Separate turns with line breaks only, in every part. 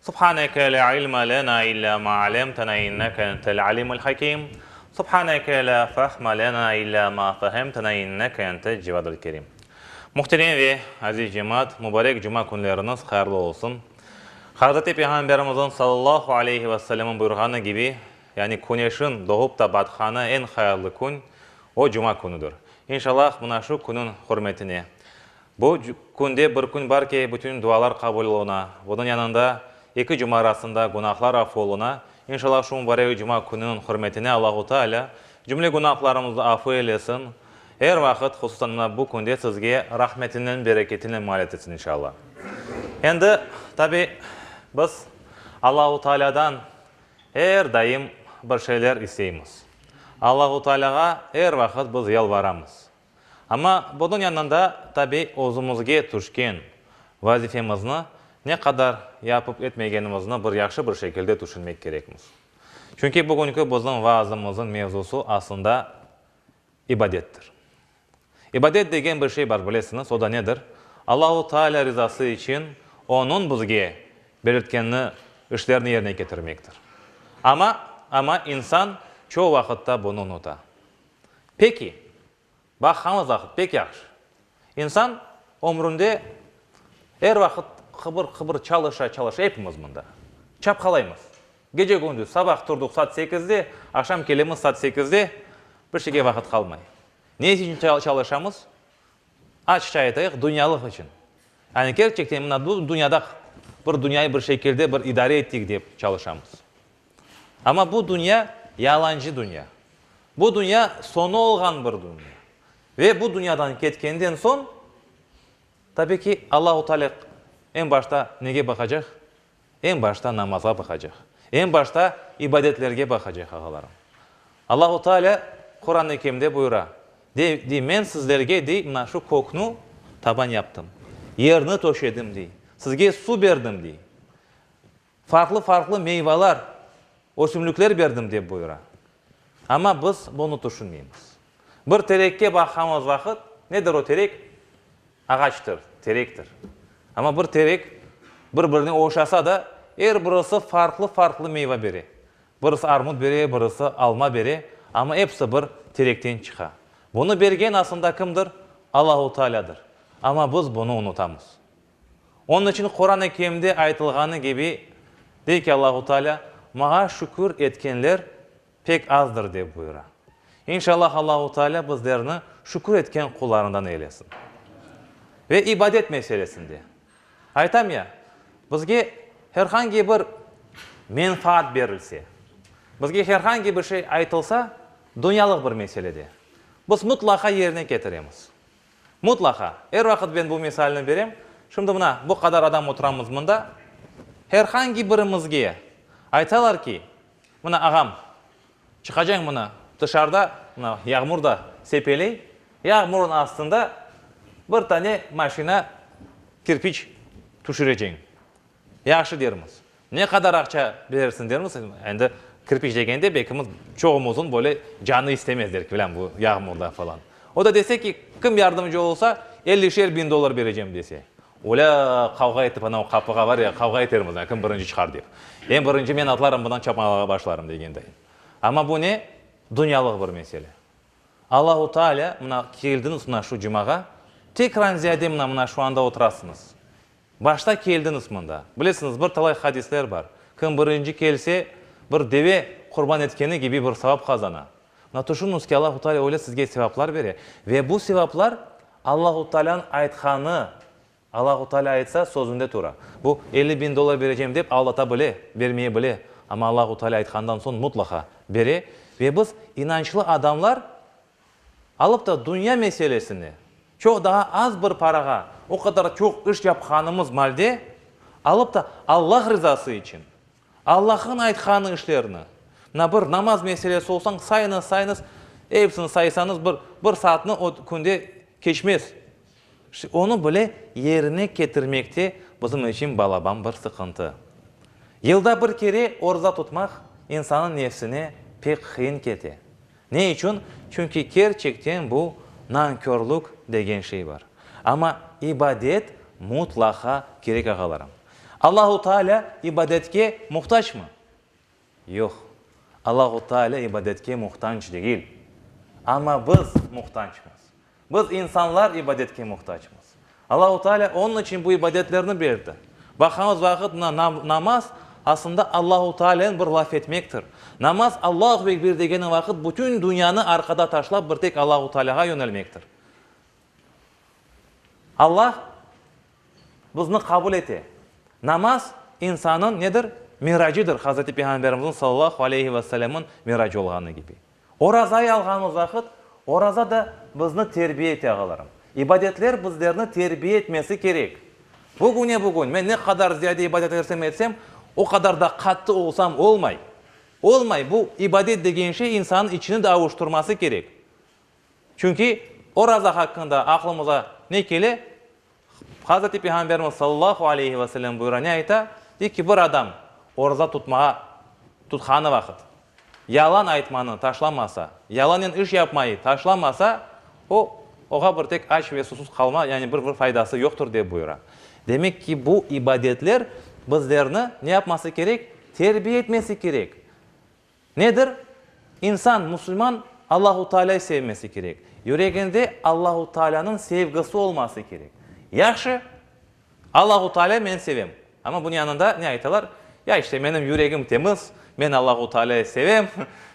Subhaneke la ilme lena illa ma alemtena inneke entel alimul hakim Subhaneke la fahme lena illa ma fehemtena inneke entel cevadul kerim Muhterem ve aziz cemaat, mubarek cuma künleriniz hayırlı olsun. Hazreti Peyğamberimizin sallallahu aleyhi ve sellem'in buyurğanı kibi, yani küneşin doğup ta batqanı eñ hayırlı kün, o, cuma künüdir. İnşalâh, mına şu künün hürmetine Bu künde bir kün bar ki, bütün dualar qabul oluna. Bunıñ yanında, eki cuma arasında günahlar af oluna. İnşalâh, şu mubarek cuma kününiñ hürmetine Allahu Teala cümle günahlarımıznı afu eylesin, er vaqıt, hususan mına bu künde sizge rahmetinen, bereketinen mualet etsin, inşalâh. Endi, tabi, biz Allahu Tealâdan er daim bir şeyler isteymiz. Allahu Tealâğa er vaqıt biz yalvaramız. Amma bunıñ yanında, tabiy, özümizge tüşken vazifemizni ne qadar yapıp etmegenimizni bir yahşı bir şekilde tüşünmek kerekmiz. Çünki bugünki bizim vaazımızıñ mevzusı aslında ibadettir. İbadet degen bir şey bar, bilesiñiz, o da nedir? Allahu Taalâ rizası içün Onıñ bizge belirtkenini, işlerni yerine ketirmektir. Amma, amma insan çoğu vaqıtta bunı unuta. Peki, baqqanız vaqıt pek yahşı. İnsan ömründe er vaqıt qıbır-qıbır çalışa-çalışa, epimiz mında, çapqalaymız. Gece-gündüz, sabah turduq saat sekizde, aqşam kelemiz saat sekizde, bir şeyge vaqıt qalmay. Ne içün çalışamız? Açıqça aytayıq, dünyalıq içün. Yani kerçekten mına bu dünyada bir dünyayı bir şekilde bir idare ettik dep çalışamız. Amma bu dünya, yalancı dünya. Bu dünya, soñu olğan bir dünya. Ve bu dünyadan ketkenden soñ, tabiy ki, Allahu Teala eñ başta nege baqacaq? Eñ başta namazğa baqacaq. Eñ başta ibadetlerge baqacaq, ağalarım. Allahu Teala Quran-ı Kerimde buyura, dey, dey, men sizlerge, dey, mına şu kökni taban yaptım, yerni töşedim, dey, sizge su berdim, dey. Farqlı-farqlı meyvalar, ösümlikler berdim, dep buyura. Amma biz bunı tüşünmeymiz. Bir terekke baqamız vaqıt, nedir o terek? Ağaçtır, terektir. Amma bir terek bir-birine oşasa da, er birisi farqlı-farqlı meyva bere. Birisi armut bere, birisi alma bere, amma episi bir terekten çıqa. Bunı bergen asında kimdir? Allahu Taalâdır. Amma biz bunı unutamız. Onıñ içün Quran-ı Kerimde aytılğanı kibi, dey ki, Allahu Taalâ, Maña şükür etkenler pek azdır, dep buyura. İnşallah Allahu Taalâ bizlerni şükür etken qullarından eylesin. Ve ibadet meselesinde, aytam ya, bizge her hangi bir menfaat berilse, bizge her hangi bir şey aytılsa, dünyalıq bir meselede, biz mutlaqa yerine ketiremiz. Mutlaqa. Er vaqıt ben bu misalni berem. Şimdi mına, bu qadar adam oturamız mında. Her hangi birimizge aytalar ki, mına, ağam, çıqacañ mına tışarda, mına, yağmur da sepeley, yağmurın astında bir tane maşina kirpiç tüşüreceñ. Yahşı dermiz. Ne qadar aqça berersiñ dermiz, endi kirpiç degende belkimiz çoğumuzın böyle canı istemez der ki, bilem, bu yağmurda falan. O da dese ki, kim yardımcı olsa, ellişer biñ dollar berecem dese. Olâ, qavğa etip ana o qapığa var ya, qavğa etermiz, kim birinci çıqar dep. Eñ birinci men atlarım, bundan çapmalağa başlarım degenday. Amma bu ne? Dünyalıq bir mesele. Allahu Taalâ, mına keldiñiz mına şu cumağa, tek ranziyade mına, mına şu anda oturasıñız. Başta keldiñiz mında. Bilesiñiz, bir talay hadisler bar. Kim birinci kelse, bir deve qurban etkeni kibi bir savap qazana. Mına tüşüniñiz ki, Allahu Taalâ öyle sizge sevaplar bere. Ve bu sevaplar Allahu Taalânıñ aytqanı. Allahu Taalâ aytsa, sözünde tura. Bu elli biñ dollar berecem dep aldata bile, bermeye bile. Amma Allahu Taalâ aytqandan soñ mutlaqa bere. Ve biz inançlı adamlar Alıp da dünya meselesine, çoq daa az bir parağa o qadar çoq iş yapqanımız malde, alıp da Allah rızası içün, Allah'ın aytqanı işlerni, mına bir namaz meselesi olsañ sayınız, sayınız, episini saysanız bir bir saatnı o künde keçmez. İşte onı bile yerine ketirmekte bizim içün balaban bir sıqıntı. Yılda bir kere orza tutmaq insanıñ nefsine pek qıyın kete. Ne içün? Çünki kerçekten bu nankörlük degen şey bar. Amma ibadet mutlaqa kerek, ağalarım. Allahu Taalâ ibadetke muhtacmı? Yoq. Allahu Taalâ ibadetke muhtanc degil. Amma biz muhtancmız. Biz insanlar ibadetke muhtacmız. Allahu Teala onıñ içün bu ibadetlerni berdi. Baqamız vaqıt mına namaz asında Allahu Tealeni bir laf etmektir. Namaz Allahu Ekbir degeniñ vaqıt bütün dünyanı arqada taşlap bir tek Allahu Tealağa yönelmektir. Allah bizni qabul ete. Namaz insanıñ nedir? Miracıdır, Hazreti Peyğamberimiziñ sallallahu aleyhi ve sellemniñ miracı olğanı kibi. Orazayı alğanımız vaqıt, oraza da bizni terbiye ete, ağalarım. İbadetler bizlerni terbiye etmesi kerek. Bugüne-bugün men ne qadar ziyade ibadet etsem etsem, o qadar da qattı olsam olmay. Olmay, bu ibadet degen şey insannıñ içini de avuştırması kerek. Çünki oraza haqqında aqlımıza ne kele? Hazreti Peyğamberimiz sallallahu aleyhi ve sellem buyura ne ayta, dey ki, bir adam oruza tutmağa tutqanı vaqıt yalan aytmanı taşlamasa, yalanen iş yapmayı taşlamasa, o, oğa bir tek aç ve susuz qalma, yani bir bir faydası yoqtur, dep buyura. Demek ki, bu ibadetler bizlerni ne yapması kerek? Terbiye etmesi kerek. Nedir? İnsan, musulman, Allahu Taalâyı sevmesi kerek. Yüreginde Allahu Taalânıñ sevgisi olması kerek. Yahşı, Allahu Taalâyı men sevem. Amma bunıñ yanında ne aytalar? Ya, işte, menim yüregim temiz, men Allahu Taalâyı sevem,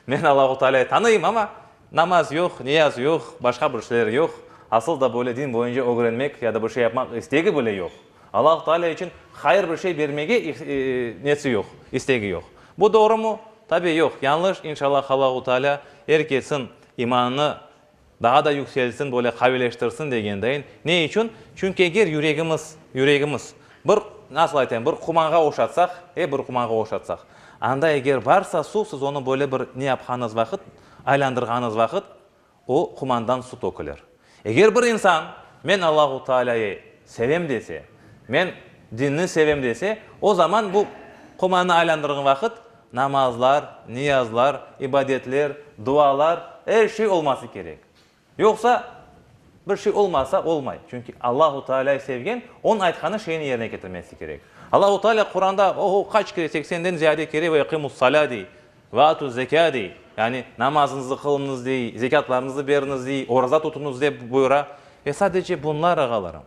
men Allahu Taalâyı tanıyım, amma namaz yoq, niyaz yoq, başqa bir şeyler yoq, asıl da böyle din boyunca ögrenmek ya da bir şey yapmaq istegi bile yoq. Alâh Taalâ içün hayır bir şey bermege nesi yoq, istegi yoq. Bu doğrumı? Tabi yoq, yañlış, inşalâh Alâhu Taalâ er kesin imanını daa da yükseltsin, böyle qavileştirsin degen deyin. Ne içün? Çünki eger yüregimiz, yüregimiz bir, nasıl aytayım, bir qumanğa oşatsaq, e, bir qumanğa oşatsaq, anda eger barsa suv, siz onı böyle bir ne yapqanıñız vaqıt, aylandırğanıñız vaqıt, O qumandan su tökülir. Eger bir insan, Men Allahu Taalâyı sevem dese, men dinni sevem dese, o zaman bu qumannı aylandırğan vaqıt namazlar, niyazlar, ibadetler, dualar, er şey olması kerek. Yoqsa bir şey olmasa olmay. Çünki Allahu Taalâyı sevgen, onıñ aytqanı şeyni yerine ketirmesi kerek. Allahu Taalâ Quranda, oho, qaç kere, seksenden ziyade kere, Ve iqimus-salâ, dey. Ve atü zekâ dey, yani namazıñızı qılıñız dey, zekâtlarıñızı beriñiz dey, oraza tutuñız dep buyura. Ve sadece bunlar, ağalarım.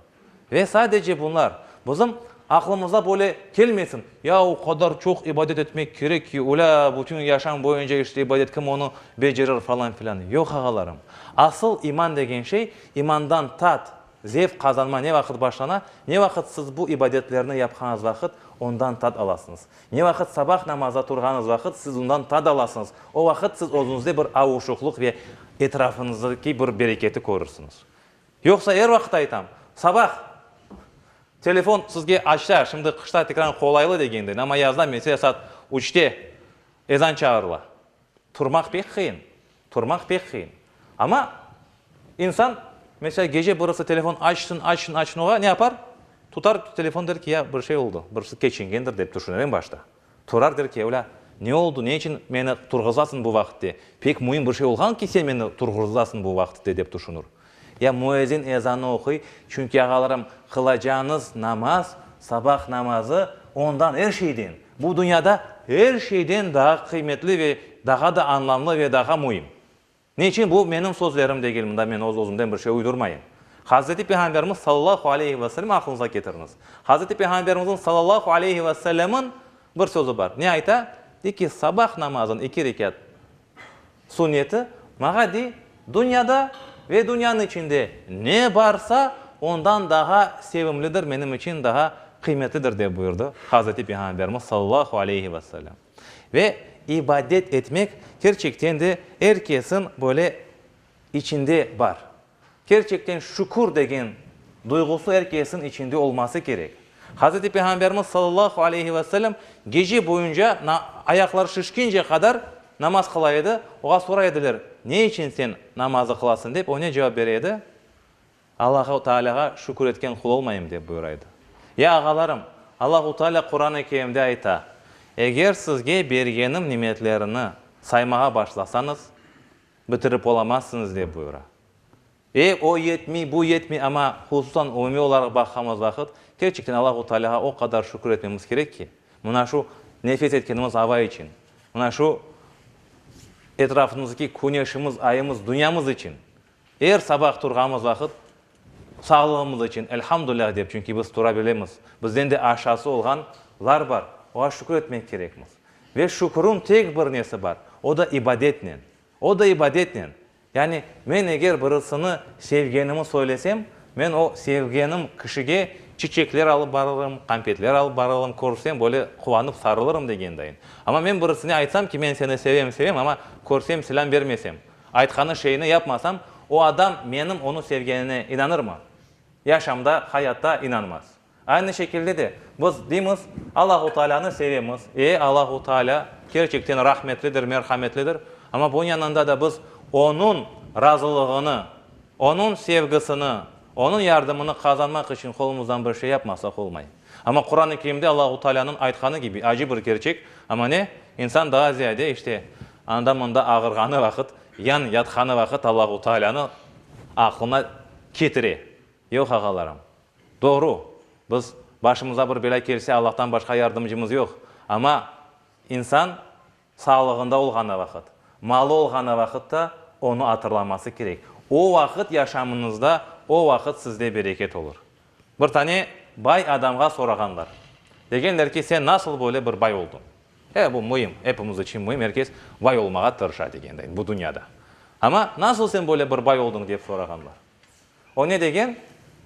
Ve sadece bunlar. Bizim aqlımıza böyle kelmesin, ya o qadar çoq ibadet etmek kerek ki, ulâ, bütün yaşam boyunca işte ibadet, kim onı becerir falan filan. Yoq, ağalarım. Asıl iman degen şey, imandan tat, Zevq qazanma ne vaqıt başlana? Ne vaqıt siz bu ibadetlerni yapqanız vaqıt ondan tat alasıñız? Ne vaqıt sabah namazına turğanız vaqıt siz ondan tat alasıñız? O vaqıt siz özüñizde bir avuşuqlıq ve etrafıñızdaki bir bereketi körürsiniz. Yoqsa er vaqıt aytam, sabah telefon sizge açsa, şimdi qışta tekraren qolaylı degendeyn, amma yazda, mesela saat üçte ezan çağırıla. Turmaq pek qıyın, turmaq pek qıyın. Amma insan, mesela, gece birisi telefon açsın, açsın, açsın, oğa ne yapar? Tutar telefon, der ki, ya, bir şey oldu, birisi keçingendir, dep tüşüner eñ başta. Turar, der ki, evla, ne oldu, ne içün meni turğuzasıñ bu vaqıtte? Pek müim bir şey olğan ki, sen meni turğuzasıñ bu vaqıtte, dep tüşünür. Ya müezzin ezanı oquy, çünki, ağalarım, qılacağınız namaz, sabah namazı, ondan er şeyden, bu dünyada er şeyden daa qıymetli ve daha da anlamlı ve daha müim. Ne içün? Bu menim sözlerim degil, mında men öz-özümden bir şey uydurmayım. Hazreti Peyğamberimiz sallallahu aleyhi ve sellem aqlınıza ketiriñiz. Hazreti Peyğamberimizniñ sallallahu aleyhi ve sellemın bir sözü bar. Ne ayta? Dey ki, sabah namazın eki rekat. Suneti, mağa dey, dünyada ve dünyanıñ içinde ne barsa, ondan daha sevimlidir, menim içün daha qıymetlidir, dep buyurdı Hazreti Peyğamberimiz sallallahu aleyhi ve sellem. Ve ibadet etmek kerçekten de er kesiñ böyle içinde bar. Kerçekten şükür degen duyğusı er kesniñ içinde olması kerek. Hazreti Peyğamberimiz sallallahu aleyhi ve sellem gece boyunca na ayaqları şişkince qadar namaz qıla edi, oğa soray ediler, Ne içün sen namazı qılasıñ? dep, o ne cevap bere edi? Allahu Taalâğa şükür etken qul olmayım, dep buyura edi. Ya ağalarım, Allahu Taalâ Quran-ı Kerimde ayta, Eger sizge bergenim nimetlerini saymağa başlasañız, Bitirip olamazsıñız, dep buyura. E, o yetmey, bu yetmey, amma, hususan umumiy olaraq baqamız vaqıt, kerçekten Allahu Taalâğa o qadar şükür etmemiz kerek ki, mına şu nefes etkenimiz ava içün, mına şu etrafımızdaki küneşimiz, ayımız, dünyamız içün er sabah turğamız vaqıt, Sağlığımız içün elhamdüllah dep, çünki biz tura bilemiz. Bizden de aşası olğan lar bar, oğa şükür etmek kerekmiz. Ve şükürüñ tek bir nesi bar, o da ibadetnen. O da ibadetnen. Yani men eger birisini sevgenimi söylesem, men o sevgenim kişige çiçekler alıp barırım, konfetler alıp barırım, körsem böyle quvanıp sarılırım degendayin. Ama men birisine aytsam ki, men seni sevem, sevem, ama körsem, selâm bermesem, Aytqanı şeyni yapmasam, o adam menim onı sevgenine inanırmı? Yaşamda, hayatta inanmaz. Aynı şekilde de, biz deymiz, Allahu Taalânı sevemiz, e, Allahu Taalâ kerçekten rahmetlidir, merhametlidir, amma bunıñ yanında da biz Onıñ razılığını, Onıñ sevgisini, Onıñ yardımını qazanmaq içün qolumızdan bir şey yapmasaq olmay. Amma Quran-ı Kerimde Allahu Taalânıñ aytqanı kibi acı bir kerçek, amma ne? İnsan daa ziyade, işte, Anda-mında ağırğanı vaqıt, yan yatqanı vaqıt Allahu Taalânı aqlına ketire. Yoq, ağalarım. Doğru, biz başımıza bir belâ kelse, Allahtan başqa yardımcımız yoq. Amma insan sağlığında olğanı vaqıt, malı olğanı vaqıtta onı atırlaması kerek. O vaqıt yaşamınızda, o vaqıt sizde bereket olur. Bir tane bay adamğa sorağanlar. Degenler ki, sen nasıl böyle bir bay olduñ? E, bu müim, epimiz içün müim, er kes bay olmağa tırışa degendeñ bu dünyada. Amma nasıl sen böyle bir bay olduñ dep sorağanlar. O ne degen?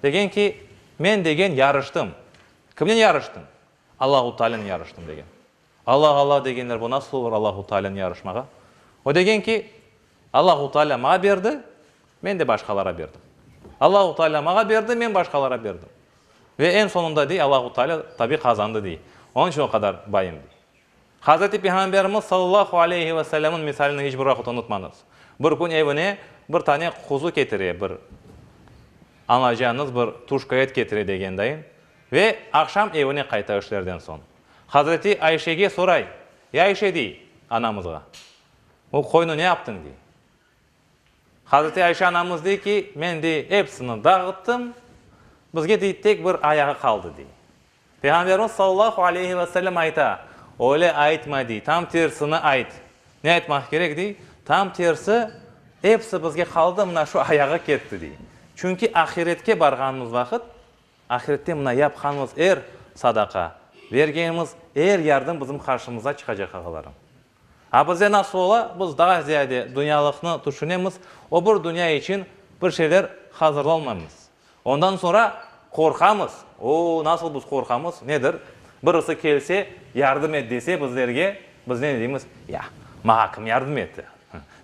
Degen ki, men degen yarıştım. Kimnen yarıştıñ? Allahu Taalânen yarıştım degen. Alla, Alla degenler, bu nasıl olur Allahu Taalâni yarışmağa? O degen ki, Allahu Taalâ mağa berdi, men de başqalara berdim. Allahu Taalâ mağa berdi, men başqalara berdim. Ve eñ soñunda, dey, Allahu Taalâ tabi qazandı, dey. Onıñ içün o qadar bayım, dey. Hazreti Peyğamberimiz sallallahu aleyhi ve sellemniñ misalini hiç bir vaqıt unutmañız. Bir kün evine bir tane quzu ketire, bir anacañız bir tuşka et ketire degendayın, ve aqşam evine qayta işlerden soñ. Hazreti Ayşege soray, Ey Ayşe, dey, anamızğa, o qoyunı ne yaptıñ, dey. Hazreti Ayşe anamız dey ki, men, dey, epsini dağıttım, bizge, dey, tek bir ayağı qaldı, dey. Peyğamberimiz sallallahu aleyhi ve sellem ayta, Öyle aytma, dey, tam tersini ayt. Ne aytmaq kerek, dey? Tam tersi, epsi bizge qaldı, mına şu ayağı ketti, dey. Çünki ahiretke barğanımız vaqıt, Ahirette mına yapqanımız er sadaqa, bergenimiz er yardım bizim qarşımıza çıqacaq, ağalarım. A bizde nasıl ola, biz daa ziyade dünyalıqnı tüşünemiz, o bir dünya içün bir şeyler hazırlanmaymız. Ondan soñra qorqamız, o, nasıl biz qorqamız, nedir, birisi kelse, yardım et dese bizlerge, biz ne deymiz, ya, maña kim yardım etti,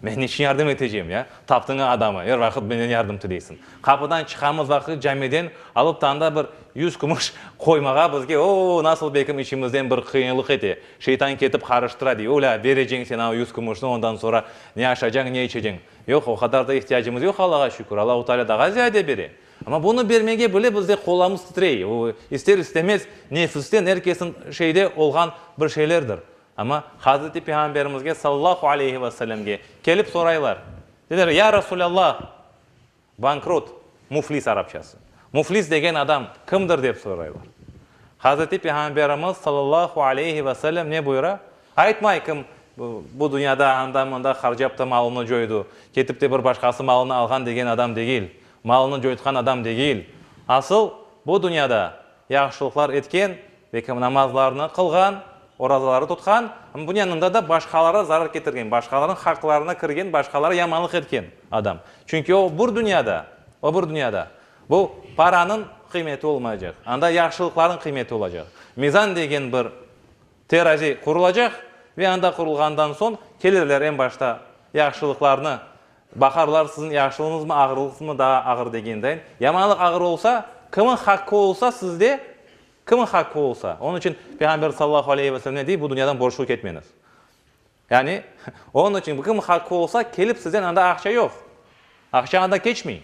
Men niçün yardım eteceyim, ya? Taptıña adamı, er vaqıt menden yardım tileysiñ. Qapıdan çıqamız vaqıt camiden alıp tanda bir yüz kümüş qoymağa bizge, o-o, nasıl bekim içimizden bir qıyınlıq ete, şeytan ketip qarıştıra, dey, ulâ, bereceń sen a yüz kümüşni, ondan soñra ne aşacañ, ne içeceñ. Yoq, o qadar da ihtiyacımız yoq, Allağa şükür, Allahu Teala daha ziyade bere. Amma bunı bermege bile bizde qollarımız titrey, o, ister-istemez, nefisten, er kesin şeyde olğan bir şeylerdir. Amma Hazreti Peyğamberimizge sallallahu aleyhi ve sellemge kelip soraylar. Dediler, Ya Resulallah, bankrut, muflis arapçası. Muflis degen adam kimdir dep soraylar. Hazreti Peyğamberimiz sallallahu aleyhi ve sellem ne buyura? Aytmay kim bu dünyada anda-mında harcap ta malını coydu, ketip te bir başqası malını alğan degen adam degil, malını coytqan adam degil. Asıl bu dünyada yahşılıqlar etken ve kim namazlarını qılğan, orazaları tutqan, amma bunıñ yanında da başqalarğa zarar ketirgen, başqalarnıñ haqlarına kirgen, başqalarğa yamanlıq etken adam. Çünki o bir dünyada, o bir dünyada bu paranıñ qıymeti olmayacaq, anda yahşılıqlarnıñ qıymeti olacaq. Mizan degen bir terazi qurulacaq ve anda qurulğandan soñ kelirler, eñ başta yahşılıqlarnı Baharlar siziñ yaşlığıñızmı, ağırlıqsızmı daa ağır degendayin, yamanlıq ağır olsa, kimniñ haqqı olsa sizde, kimniñ haqqı olsa. Onıñ içün Peyğamberimiz sallallahu aleyhi ve selem ne dey, bu dünyadan borclu ketmeñiz. Yani, onıñ içün kimniñ haqqı olsa, kelip sizden anda aqça yoq, aqça andan keçmey.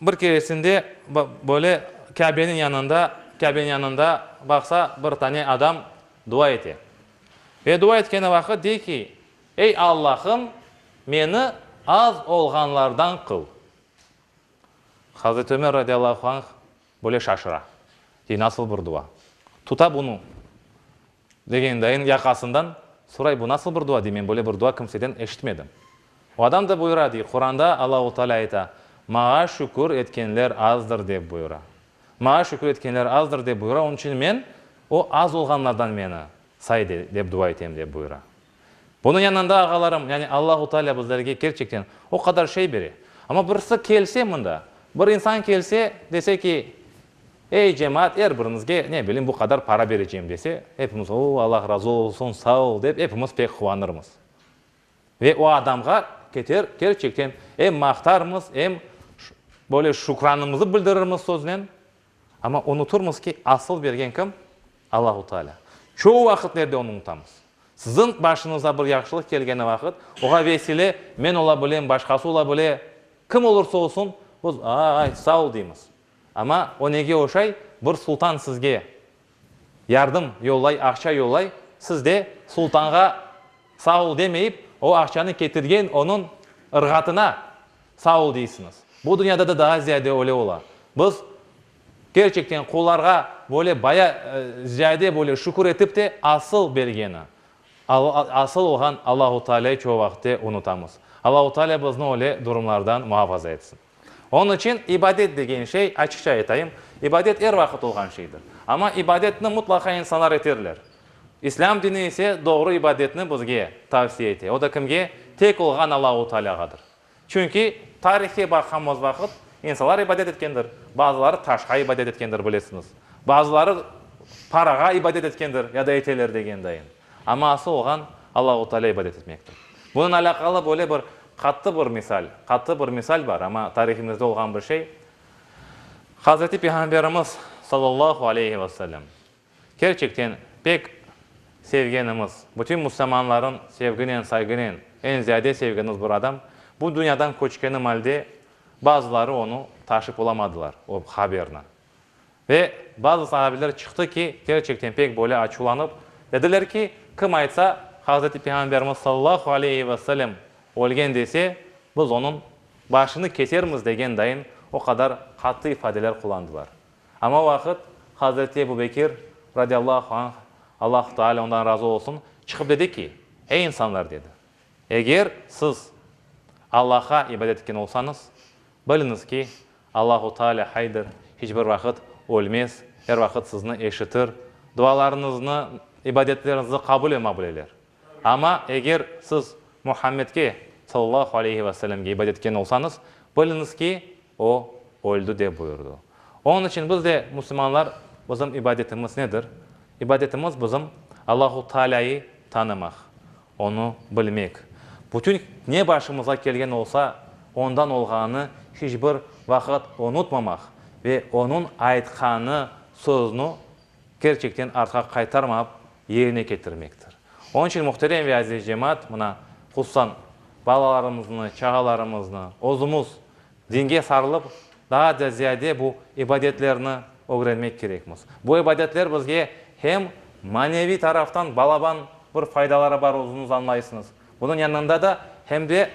Bir keresinde böyle Kâbeniñ yanında, Kâbeniñ yanında baqsa, bir tane adam dua ete. Ve dua etkeni vaqıt dey ki, Ey Allahım, meni az olğanlardan qıl. Hazreti Ömer radiallahu anh böyle şaşıra. Dey, nasıl bir dua? Tuta bunı. Degen dayın yaqasından soray, bu nasıl bir dua, dey, men böyle bir dua kimseden eşitmedim. O adam da buyura, dey, Quranda Allahu Taalâ ayta, Mağa şükür etkenler azdır, dep buyura. Mağa şükür etkenler azdır, dep buyura, onıñ içün men, o az olğanlardan meni say, dep dua etem, dep buyura. Bunıñ yanında ağalarım, yani Allahu Taalâ bizlerge kerçekten o qadar şey bere. Amma birisi kelse mında, bir insan kelse, dese ki, Ey, cemaat, er biriñizge, ne bileyim, bu qadar para bereceyim, dese, epimiz, O, Allah razı olsun, sağ ol, dep epimiz pek quvanırmız. Ve o adamğa keter, kerçekten em maqtarmız, em böyle şükranımızı bildirirmiz söznen, Amma unuturmız ki, asıl bergen kim? Allahu Taalâ. Çoğu vaqitlerde onı unutamız. Siziñ başınıza bir yahşılıq kelgeni vaqıt, oğa vesile men ola bilem, başqası ola bile, kim olursa olsun, biz, Aa-ay, sağ ol! deymiz. Amma o nege oşay? Bir sultan sizge. Yardım yollay, aqça yollay, siz de sultanğa sağ ol demeyip, o aqçanı ketirgen onıñ ırğatına sağ ol deysiñiz. Bu dünyada da daa ziyade öyle ola. Biz kerçekten qullarğa böyle baya ziyade böyle şükür etip te asıl bergeni, asıl olğan Allahu Taalâyı çoq vaqıtte unutamız. Allahu Taalâ bizni öyle durumlardan muhafaza etsin. Onıñ içün ibadet degen şey, açıqça aytayım, ibadet er vaqıt olğan şeydir. Amma ibadetni mutlaqa insanlar eterler. İslâm dini ise doğru ibadetni bizge tavsiye ete. O da kimge? Tek olğan Allahu Taalâğadır. Çünki tarihke baqamız vaqıt, insanlar ibadet etkendir. Bazıları taşqa ibadet etkendir, bilesiñiz. Bazıları parağa ibadet etkendir ya da eteler degendayım. Amma asıl olğan Allahu Taalâ ibadet etmektir. Bunıñ alâqalı böyle bir qattı bir misal, qattı bir misal bar, amma tarihimizde olğan bir şey. Hazreti Peyğamberimiz sallallahu aleyhi ve sellem kerçekten pek sevgenimiz, bütün musulmanların sevginen, saygınen eñ ziyade sevgenimiz bir adam bu dünyadan köçkeni malde bazıları onı taşıp olamadılar, o haberni. Ve bazı sahabiler çıqtı ki, kerçekten pek böyle açuvlanıp, dediler ki, kim aytsa, Hazreti Peyğamberimiz sallallahu aleyhi ve sellem ölgen dese, biz onıñ başını kesermiz degen dayın o qadar qattı ifadeler qullandılar. Ama o vaqıt Hazreti Ebu Bekir, radiallahu anh, Allahu Teala ondan razı olsun, çıqıp dedi ki, Ey insanlar, dedi, eger siz Allaha ibadet etken olsañız, biliñiz ki, Allahu Taalâ haydır, hiç bir vaqıt ölmez, er vaqıt sizni eşitir, dualarıñıznı, ibadetleriñizni qabul ema bileler. Amma eger siz Muhammedge, sallallahu aleyhi ve sellemge, ibadet etken olsañız, biliñiz ki, o öldi, dep buyurdı. Onıñ içün biz de, musulmanlar, bizim ibadetimiz nedir? İbadetimiz bizim Allahu Taalâyı tanımaq, Onı bilmek, bütün ne başımıza kelgen olsa, ondan olğanı hiç bir vaqıt unutmamaq ve onıñ aytqanı, sözüni kerçekten artqa qaytarmap yerine ketirmektir. Onıñ içün, muhterem ve aziz cemaat, mına, hususan balalarımıznı, çağalarımıznı, özümiz Dinge sarılıb, daa da ziyade bu ibadetlerni ögrenmek kerekmiz. Bu ibadetler bizge hem maneviy taraftan balaban bir faydaları bar özüniz añlaysıñız, bunıñ yanında da hem de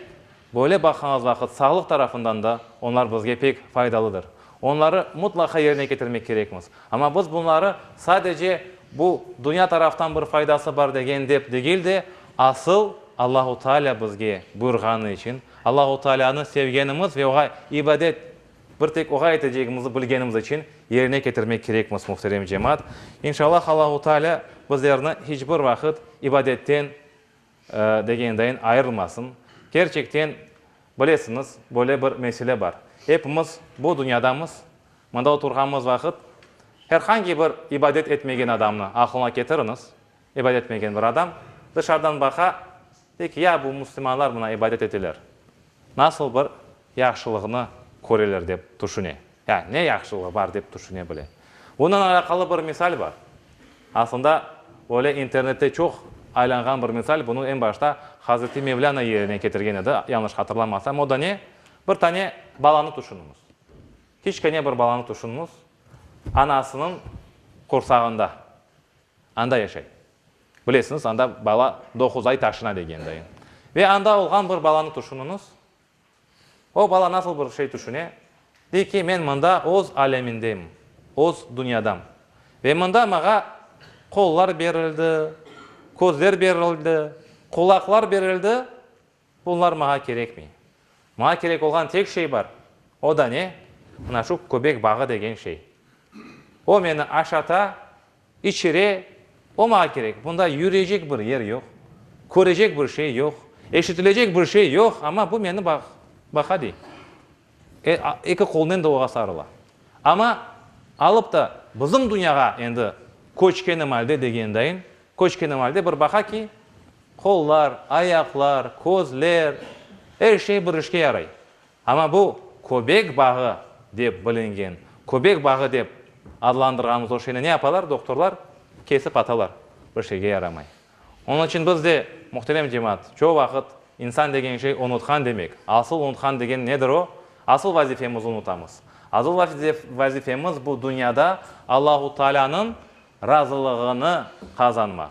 böyle baqğanız vaqıt sağlıq tarafından da onlar bizge pek faydalıdır. Onları mutlaqa yerine ketirmek kerekmiz. Amma biz bunları sadece bu dünya taraftan bir faydası bar degen dep degil de, asıl Allahu Teala bizge buyurğanı içün Allahu Taalânı sevgenimiz ve oğa ibadet bir tek oğa etecegimizni bilgenimiz içün yerine ketirmek kerekmiz, muhterem cemaat. İnşallah Allahu Taalâ bizlerni hiç bir vaqıt ibadetten degendayin ayırmasın. Kerçekten bilesiñiz, böyle bir mesele bar. Epimiz bu dünyadamız, mında
oturğanımız vaqıt, her hangi bir ibadet etmegen adamnı aqlıña ketiriñiz, İbadet etmegen bir adam dışarıdan baqa, dey ki, ya bu müslümanlar mına ibadet eteler, nasıl bir yahşılıqnı köreler dep tüşüne, ya ne yahşılığı bar dep tüşüne bile. Bundan alâqalı bir misal bar. Aslında böyle internette çoq aylanğan bir misal, bunı eñ başta Hazreti Mevlâna yerine ketirgen edi, yañlış hatırlamasam. O da ne? Bir tane balanı tüşüniñiz. Kiçkene bir balanı tüşüniñiz, anasınıñ qursağında. Anda yaşay. Bilesiñiz, anda bala doquz ay taşına degende. Ve anda olğan bir balanı tüşüniñiz. O bala nasıl bir şey tüşüne? Dey ki, men mında öz alemindem, öz dünyadam. Ve mında mağa qollar berildi, közler berildi, qulaqlar berildi, Bunlar mağa kerekmey. Mağa kerek olğan tek şey bar, o da ne? Mına şu köbek bağı degen şey. O meni aşata, içire, o mağa kerek. Bunda yürecek bir yer yoq, körecek bir şey yoq, eşitilecek bir şey yoq, amma bu meni baqa, dey. Eki qolnen de oğa sarıla. Amma alıp da bizim dünyağa endi köçkenim alde degendayin, köçkenim alde bir baqa ki, qollar, ayaqlar, közler, er şey bir işke yaray. Amma bu köbek bağı dep bilingen, köbek bağı dep adlandırğanımız o şeyni ne yapalar doktorlar? Kesip atalar, bir şeyge yaramay. Onıñ içün biz de, muhterem cemaat, çoq vaqıt, insan degen şey unutqan demek, asıl unutqan degen nedir o? Asıl vazifemizni unutamız. Asıl vazifemiz bu dünyada Allahu Taalânıñ razılığını qazanmaq.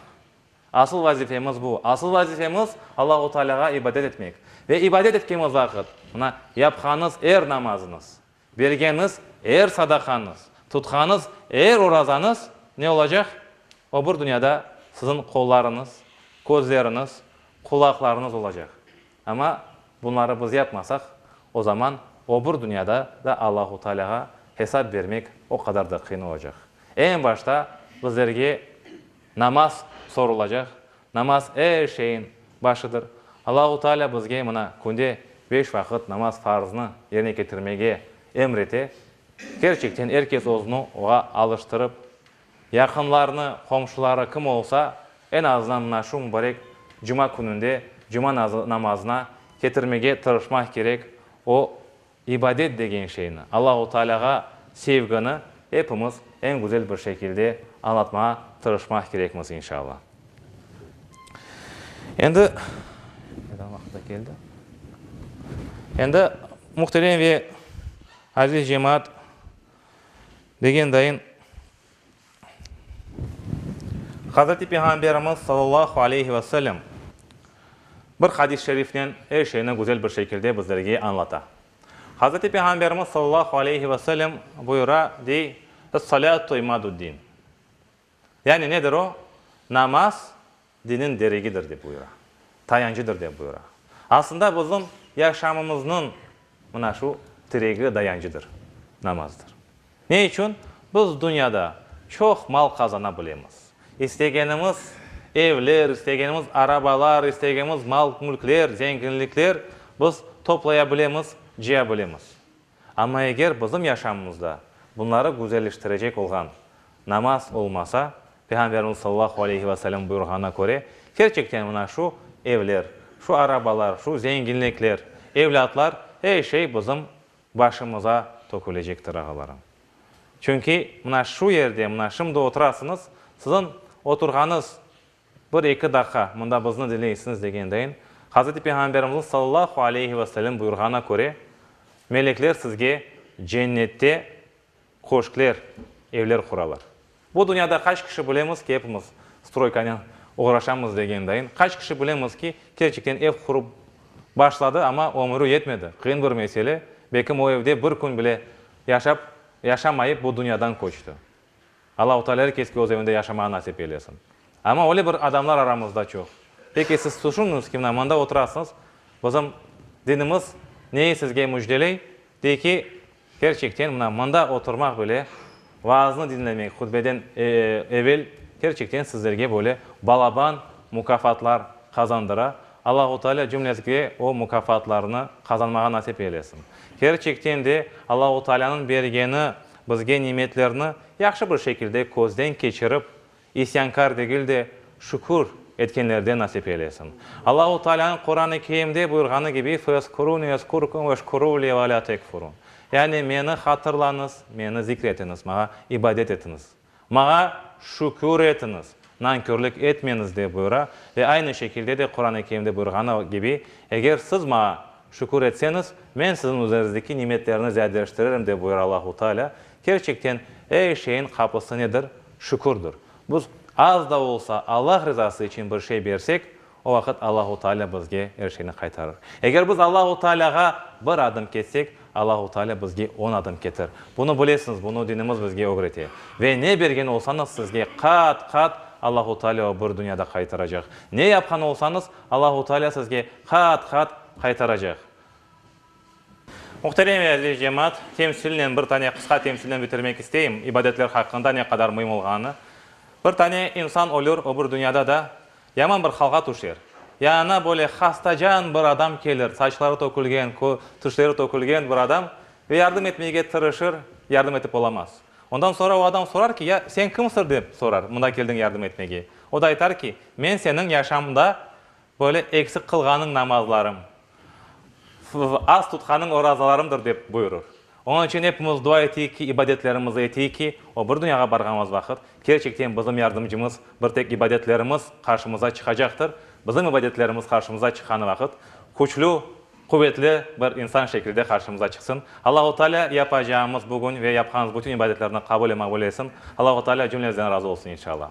Asıl vazifemiz bu. Asıl vazifemiz, Allahu Taalâğa ibadet etmek. Ve ibadet etkemiz vaqıt, mına, yapqanıız er namazıñız, Bergeniz er sadaqañız, tutqanız er orazañız ne olacaq? Öbür dünyada siziñ qollarıñız, közleriñiz, qulaqlarıñız olacaq. Amma bunları biz yapmasaq, o zaman öbür dünyada da Allahu Taalâğa hesap bermek o qadar da qıyın olacaq. Eñ başta bizlerge. Namaz sorulacaq. Namaz er şeyin başıdır. Allahu Taalâ bizge mına künde beş vaqıt namaz farzını yerine ketirmege emr ete. Kerçekten er kes özüni oğa alıştırıp, yaqınlarını, qomşuları kim olsa, en azından mına şu mubarek cuma kününde cuma namazına ketirmege tırışmaq kerek. O, İbadet degen şeyni, Allahu Taalâğa sevgini epimiz eñ güzel bir şekilde añlatmağa tırışmaq kerekmiz, inşallah. Endi, aytqan vaqıt da keldi. Endi, muhterem ve aziz cemaat, degend dayın, Hazreti Peyğamberimiz sallallahu aleyhi ve sellem bir hadis-i şerifnen er şeyni güzel bir şekilde bizlerge añlata. Hazreti Peyğamberimiz sallallahu aleyhi ve sellem buyura, dey, Es-salâtu imâdud-din. Yani nedir o? Namaz, Diniñ deregidir dep buyura, tayancıdır dep buyura. Aslında bizim yaşamımıznıñ mına şu tiregi, dayancıdır, namazdır. Ne içün? Biz dünyada çoq mal qazana bilemiz, istegenimiz evler, istegenimiz arabalar, istegemiz mal-mülkler, zenginlikler biz toplaya bilemiz, cıya bilemiz. Amma eger bizim yaşamımızda bunları güzelleştirecek olğan namaz olmasa, Peyğamberimiz sallallahu aleyhi ve sellem buyurğanına köre, kerçekten mına şu evler, şu arabalar, şu zenginlikler, evlâtlar, er şey bizim başımıza tökülecektir, ağalarım. Çünki mına şu yerde, mına şimdi oturasıñız, siziñ oturğanıñ Bir-eki daqqa, mında bizni diñleysiñiz degen deñ. Hazreti Peyğamberimizniñ sallallahu aleyhi ve sellem buyurğanına köre, melekler sizge cennette köşkler, evler quralar. Bu dünyada qaç kişi bilemiz ki, epimiz stroykanen oğraşamız degen deñ. Qaç kişi bilemiz ki, kerçekten ev qurıp başladı, amma ömürü yetmedi. Qıyın bir mesele. Belkim o evde bir kün bile yaşap, yaşamayıp bu dünyadan köçti. Allahu Taalâ er keske öz evinde yaşamağa nasip eylesin. Amma öyle bir adamlar aramızda çoq. Peki siz tüşüniñiz ki, mına mında oturasıñız, bizim dinimiz neyi sizge müjdeley? Dey ki, kerçekten mına mında oturmaq bile, vaaznı diñlemek hutbeden evel kerçekten sizlerge böyle balaban mukafatlar qazandıra. Allahu Taalâ cümlemizge o mukafatlarnı qazanmağa nasip eylesin. Kerçekten de Allahu Taalânıñ bergeni Bizge nimetlerni yahşı bir şekilde közden keçirip, isyankâr degil de, şükür etkenlerden nasip eylesin. Allahu Taalânıñ Quran-ı Kerimde buyurğanı kibi, Feezkuruni ezkurkum veşkuruli ve lâ tekfurun, yani, Meni hatırlañız, Meni zikir etiñiz, Maña ibadet etiñiz. Mağa şükür etiñiz, nankörlik etmeñiz, dep buyura. Ve aynı şekilde de Quran-ı Kerimde buyurğanı kibi, Eger siz mağa şükür etseñiz, men siziñ üzeriñizdeki nimetlerni ziyadeleştirerim, dep buyura Allahu Teala. Kerçekten, er şeyiñ qapısı nedir? Şükürdir. Biz az da olsa Allah rızası içün bir şey bersek, O vaqıt Allahu Taalâ bizge er şeyni qaytarır. Eger biz Allahu Taalâğa bir adım ketsek, Allahu Taalâ bizge on adım ketir. Bunı bilesiñiz, bunı dinimiz bizge ögrete. Ve ne bergen olsañız sizge qat-qat Allahu Taalâ o bir dünyada qaytaracaq. Ne yapqan olsañız, Allahu Taalâ sizge qat-qat qaytaracaq. Muhterem ve aziz cemaat, temsilnen bir tane qısqa temsilnen bitirmek isteyim, ibadetler haqqında ne qadar müim olğanını. Bir tane insan ölür, öbür dünyada da yaman bir halğa tüşer. Yanına böyle hastacan bir adam kelir, saçları tökülgen, kö, tişleri tökülgen bir adam ve yardım etmege tırışır, yardım etip olamaz. Ondan soñra o adam sorar ki, ya, sen kimsir dep sorar, mında keldiñ yardım etmege. O da aytar ki, men seniñ yaşamda, Böyle eksik qılğanıñ namazlarıñ, az tutqanıñ orazalarıñdır, dep buyurır. Onıñ içün epimiz dua eteyik ki, ibadetlerimizni eteyik ki, o bir dünyağa barğanımız vaqıt, kerçekten bizim yardımcımız bir tek ibadetlerimiz qarşımıza çıqacaqtır, bizim ibadetlerimiz qarşımıza çıqqanı vaqıt, küçlü, quvetli bir insan şekilde qarşımıza çıqsın. Allahu Taalâ yapacağımız bugün ve yapqanımız bütün ibadetlerni qabul ve maqbul etsin. Allahu Taalâ cümlemizden razı olsun, inşallah.